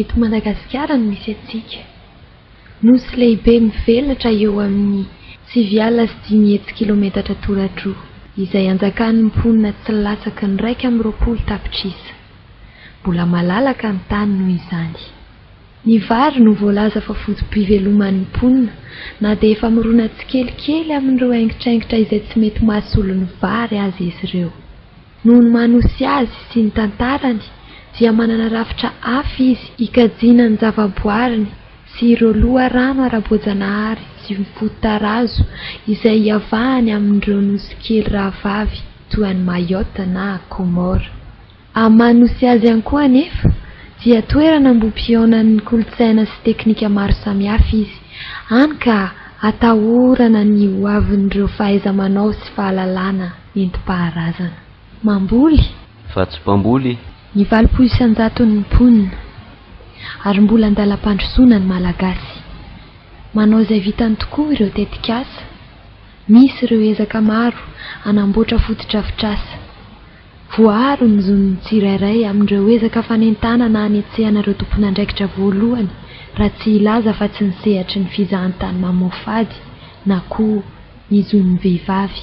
Eto Madagasikara no misy antsika. Nosy lehibe mivelatra eo amin'ny sivy alina sy dimy hetsy kilometatra toradroa, izay anjakan'ny mponina tsy latsaky ny iraika amby roapolo tapitrisa. Mbola malalaka ny tany noho izany. Ny vary no voalaza fa foto-piveloman'ny mponina, na dia efa mirona tsikelikely amin'ireo aingitraingitra izay tsy mety mahasolo ny vary aza izy ireo. Noho ny maha Nosy azy sy ny tantarany dia manana rafitra hafa izy hikajiana ny zavaboariny sy ireo loharano ara-boajanahary sy fototarazo izay hiavahany amin'ireo nosy kely rahavavy toa an'i Mayotte na Comores. Amin'ny maha Nosy azy ihany koa anefa dia toerana ambohipihaonan'ny kolontsaina sy teknika maro samihafa izy, hany ka atahorana ny hoavin'ireo fahaiza-manao sy fahalalana. Nentim-paharazana. Mamboly. Fa tsy mpamboly. Ny valopolo isan-jaton'ny mponina. Ary mbola an-dalam-pandrosoana ny Malagasy. Manao izay vitany tokoa ireo tetikasa. Misy ireo ezaka maro hanamboatra fotodrafitrasa. Voaaro ny zon'ny tsirairay amin'ireo ezaka fanentanana hanetsehana ireo tompon'andraikitra voalohany raha tsy hilaza afa-tsy ny sehatry ny fizahantany mamoafady na koa ny zon'ny vehivavy.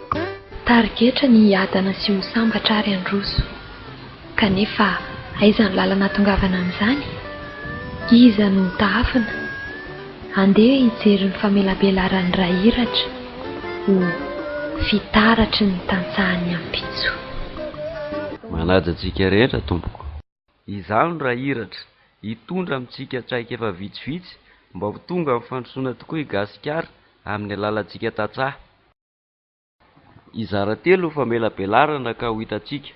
Tarigetra ny hiadana sy ho sambatra ary handroso. Kanefa aiza ny lalana hahatongavana amin'izany? Iza no ho tahafina? Andeha hijery ny famelabelaran'ny ra iratra ho fitaratry ny tantsahan'ny ampitso. Manaja antsika rehetra Tompoko. Izaho no ra iratra, hitondra amintsika traikefa vitsivitsy mba ho tonga amin'ny fandrosoana tokoa i Gasikara amin'ny alalantsika tantsaha. Hizara telo ny famelabelarana ka ho hitantsika.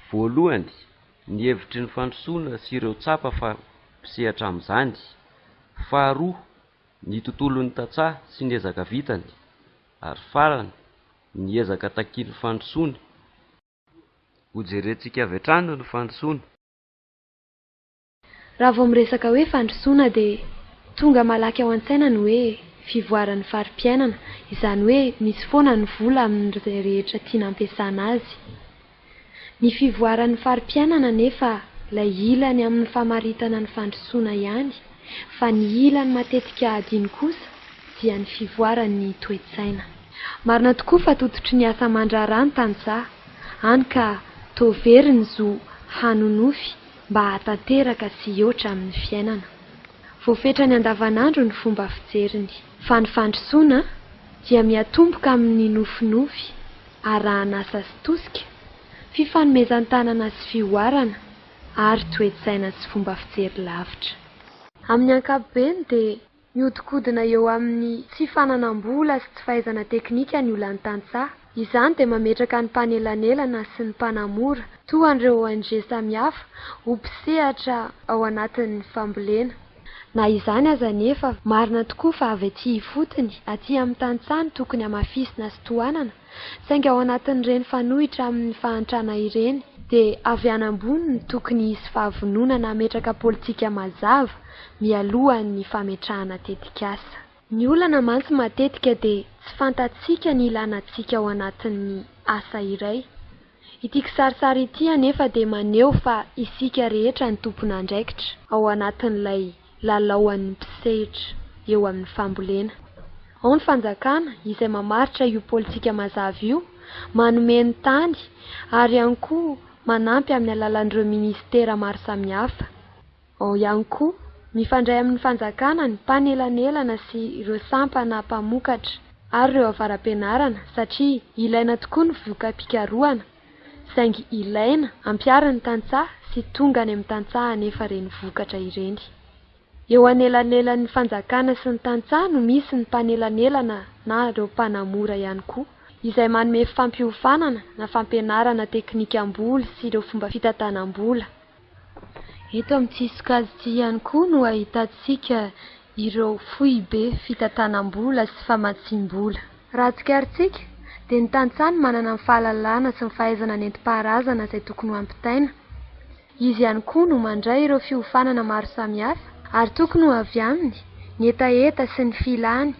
Voalohany, ny hevitry ny fandrosoana sy ireo tsapa fa mpisehatra amin'izany. Faharoa, ny tontolon'ny tantsaha sy ny ezaka vitany. Ary farany, ny ezaka takian'ny fandrosoana. Hojerentsika avy hatrany ny fandrosoana. Raha vao miresaka hoe fandrosoana dia tonga malaky ao an-tsaina ny hoe fivoaran'ny fari-piainana, izany hoe misy foana ny vola amin'izay rehetra tiana ampiasana azy. Ny fivoaran'ny fari-piainana anefa ilay ilany amin'ny famaritana ny fandrosoana ihany fa ny ilany matetika adino kosa dia ny fivoaran'ny toe-tsaina. Marina tokoa fa tototry ny asa aman-draharaha ny tantsaha, hany ka toa very ny zo hanonofy mba hahatanteraka sy hioatra amin'ny fiainana. Voafetrany andavanandro ny fomba fijeriny. Fa ny fandrosoana dia miatomboka amin'ny nofinofy arahan'asa sy tosika, fifanomezan-tanana sy fihoarana, ary toe-tsaina sy fomba fijery lavitra. Amin'ny ankapobeny dia Mihodinkodina eo amin'ny tsy fananam-bola sy tsy fahaizana teknika ny olan'ny tantsaha. Izany dia mametraka ny mpanelanelana sy ny mpanamora, toa an'ireo ONG samihafa, ho mpisehatra ao anatin'ny fambolena. Na izany aza anefa, marina tokoa fa avy aty ifotony, aty amin'ny tantsaha no tokony hamafisina sy tohanana, Saingy ao anatin'ireny fanohitra amin'ny fahantrana ireny, dia avy any ambony no tokony hisy fahavononana hametraka politika mazava mialohan'ny fametrahana tetikasa. Ny olana mantsy matetika dia tsy fantatsika ny ilàna antsika ao anatin'ny asa iray. Ity kisarisary ity anefa dia maneho fa isika rehetra no tompon'andraikitra ao anatin'ilay lalaoan'ny mpisehitra eo amin'ny fambolena. Ao ny fanjakana izay mamaritra io politika mazava io, manome ny tany ary ihany koa manampy amin'ny alalan'ireo minisitera maro samihafa. Ao ihany koa, mifandray amin'ny fanjakana ny mpanelanelana sy ireo sampana mpamokatra ary ireo avara-pianarana satria ilaina tokoa ny voka-pikarohana saingy ilaina ampiharin'ny tantsaha sy tonga any amin'ny tantsaha anefa ireny vokatra ireny. Eo anelanelan'ny fanjakana sy ny tantsaha no misy ny mpanelanelana na ireo mpanamora ihany koa izay manome fampiofanana na fampianarana teknikam-boly sy ireo fomba fitantanam-bola. Eto amin'ity sokajy ity ihany koa no ahitantsika ireo foibe fitantanam-bola sy famatsiam-bola. Raha tsikarintsika dia ny tantsaha no manana ny fahalalana sy ny fahaizana nentim-paharazana izay tokony ho ampitaina. Izy ihany koa no mandray ireo fiofanana maro samihafa ary tokony ho avy aminy ny hetaheta sy ny filany.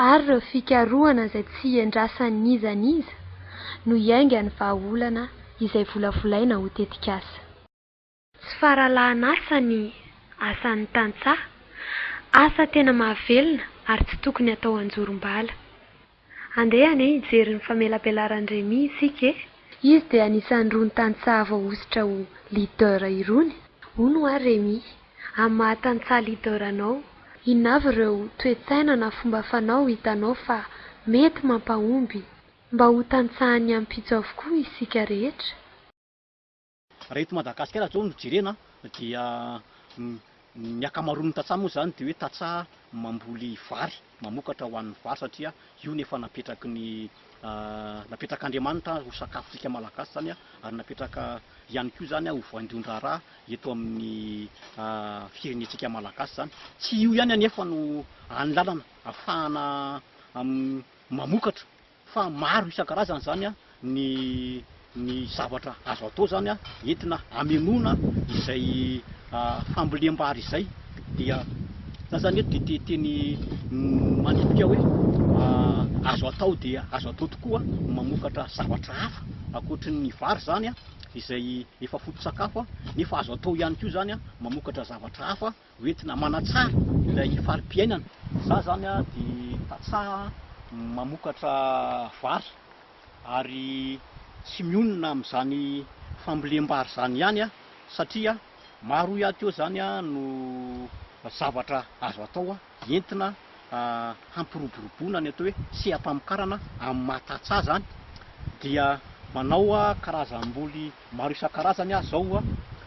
ary ireo fikarohana izay tsy iandrasan'iza n'iza no iaingan'ny vahaolana izay volavolaina ho tetikasa. Tsy faralahan'asa ny asan'ny tantsaha, asa tena mahavelona ary tsy tokony atao an-jorom-bala. Andeha anie hijery ny famelabelaran'i Remy isika e! Izy dia anisan'irony tantsaha voahosotra ho leader irony, hono ho'a Remy. amin'ny maha tantsaha leader anao? Inona avy ireo toe-tsaina na fomba fanao hitanao fa mety mampahomby mba ho tantsahan'ny ampitso avokoa isika rehetra? Raha eto Madagasikara izao no jerena dia ny ankamaroan'ny tantsaha moa izany dia hoe tantsaha mamboly vary, mamokatra ho an'ny vary satria io no efa napetraky ny Napetrak'Andriamanitra ho sakafontsika Malagasy izany ary napetraka ihany koa izany ho voaindon-draharaha eto amin'ny firenentsika Malagasy izany. Tsy io ihany anefa no hany lalana hahafahana mamokatra fa maro isan-karazany izany ny ny zavatra azo atao zany entina hamenoana izay fambolem-bary izay dia za zany eto dia te teny manipika hoe azo atao dia azo atao tokoa ny mamokatra zavatra hafa ankoatry ny vary zany izay efa foto-tsakafo nefa azo atao ihany koa zany mamokatra zavatra hafa ho entina manatsara ilay fari-piainana. Izaho izany dia tantsaha mamokatra vary ary tsy mionona amin'izany fambolem-bary izany ihany aho satria maro ihany koa izany no zavatra azo atao entina hampiroboroboana ny atao hoe seha-pamokarana amin'ny maha tantsaha izany dia manao karazam-boly Maro isan-karazany aza ao,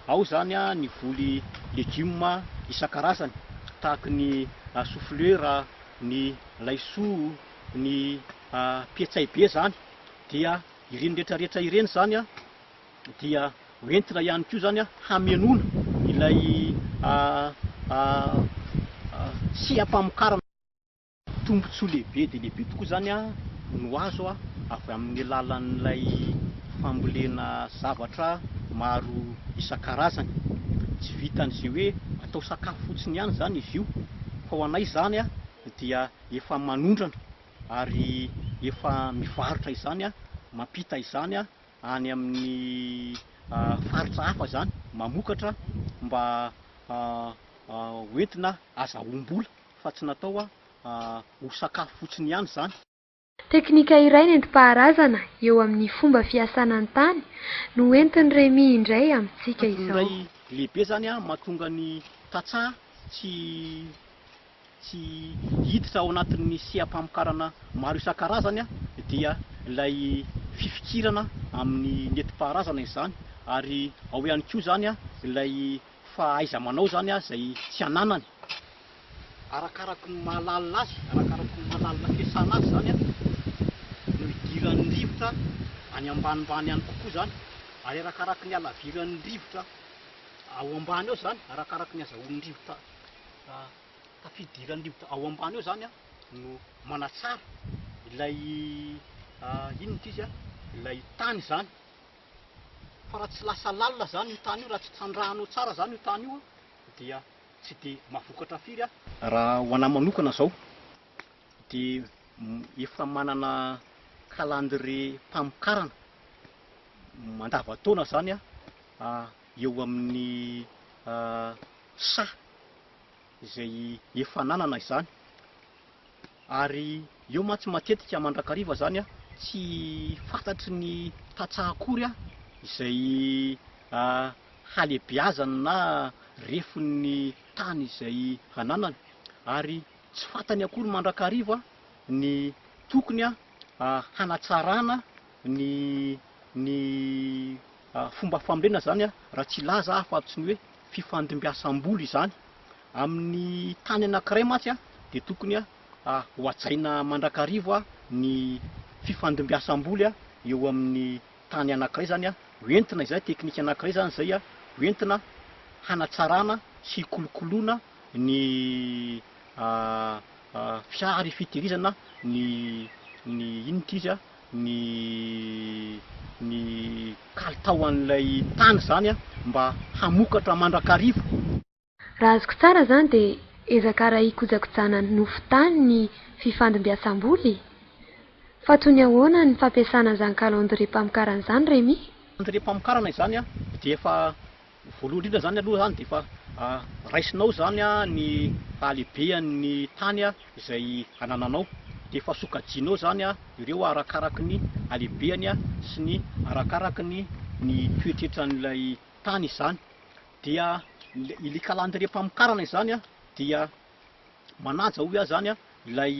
ao izany ny voly legioma isan-karazany tahaka ny soflera, ny laisoa, ny petsay be izany dia ireny rehetra rehetra ireny izany dia ho entina ihany koa izany hamenoana ilay seha-pamokarana. Tombontsoa lehibe dia lehibe tokoa izany no azo avy amin'ny alalan'ilay fambolena zavatra maro isan-karazany. Tsy vitan'izay hoe atao sakafo fotsiny ihany izany izy io fa ho anay izany dia efa manondrana ary efa mivarotra izany, mampita izany any amin'ny faritra hafa izany, mamokatra mba ho entina azahoam-bola. fa tsy natao ho sakafo fotsiny ihany izany. Teknika iray nentim-paharazana eo amin'ny fomba fiasana ny tany no entin'i Remy indray amintsika izao. Antony iray lehibe izany mahatonga ny tantsaha tsy tsy hiditra ao anatin'ny seha-pamokarana maro isan-karazany dia ilay fifikirana amin'ny nentim-paharazana izany ary ao ihany koa izany ilay fa aiza manao zany a zay tsy ananany arakaraky ny mahalalina azy arakaraky ny mahalalina fiasana azy zany a no idiran'ny rivotra any ambanimbany any kokoa zany ary arakaraky ny halaviran'ny rivotra ao ambany ao zany arakaraky ny azahoan'ny rivotra tafidiran'ny rivotra ao ambany ao zany a no manatsara ilay inona ity izy a ilay tany zany fa raha tsy lasa lalina zany io tany io, raha tsy trandrahanao tsara zany io tany io dia tsy de mahavokatra firy an! Raha ho anahy manokana zao de efa manana calendrier mpamokarana mandavan-taona zany aho eo amin'ny saha. izay efa nanana izany ary eo mantsy matetika mandrakariva izany tsy fantatry ny tantsaha akory izay halehibeazany na refon'ny tany izay ananany ary tsy fantany akory mandrakariva ny tokony hanatsarana ny ny fomba famorena izany raha tsy hilaza aho fa tsy ny hoe fifandimbiasam-bola izany. Amin'ny tany anankiray mantsy dia tokony ho hajaina mandrakariva ny fifandimbiasam-boly eo amin'ny tany anankiray izany ho entina izay, teknika anankiray izany izay ho entina hanatsarana sy hikolokoloana ny fiara ifitehirizana ny ny inona ity izy. ny ny kalitao an'ilay tany izany mba hamokatra mandrakariva. Raha azoko tsara izany dia ezaka ara hikojakojana nofo tany ny fifandimbiasam-bola e? Fa toy ny ahoana ny fampiasana an'izany calendrier-pamokarana izany Remy? Calendrier-pamokarana izany dia efa Voalohany indrindra izany aloha izany dia efa raisinao izany ny halehibehan'ny tany izay anananao, dia efa sokajianao izany ireo arakaraky ny halehibehany sy ny arakaraky ny ny toetretran'ilay tany izany. Dia ilay kalandrie-pamokarana izany dia manaja hoy aho izany ilay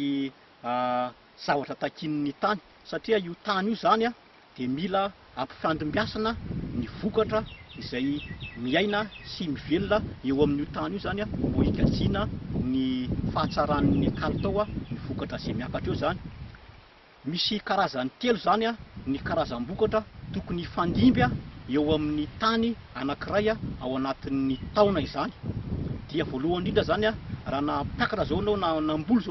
zavatra takian' ny tany satria io tany io zany dia mila ampifandimbiasana ny vokatra izay miaina sy mivelona eo amin' io tany io zany mbo higatsiana ny fahatsaran' ny kalitao ny vokatra izay miakatra eo zany. Misy karazany telo zany ny karazam-bokatra tokony hifandimby eo amin' ny tany anankiray ao anatin' ny taona izany dia voalohany indrindra zany raha nampiakatra zao enao na namboly zao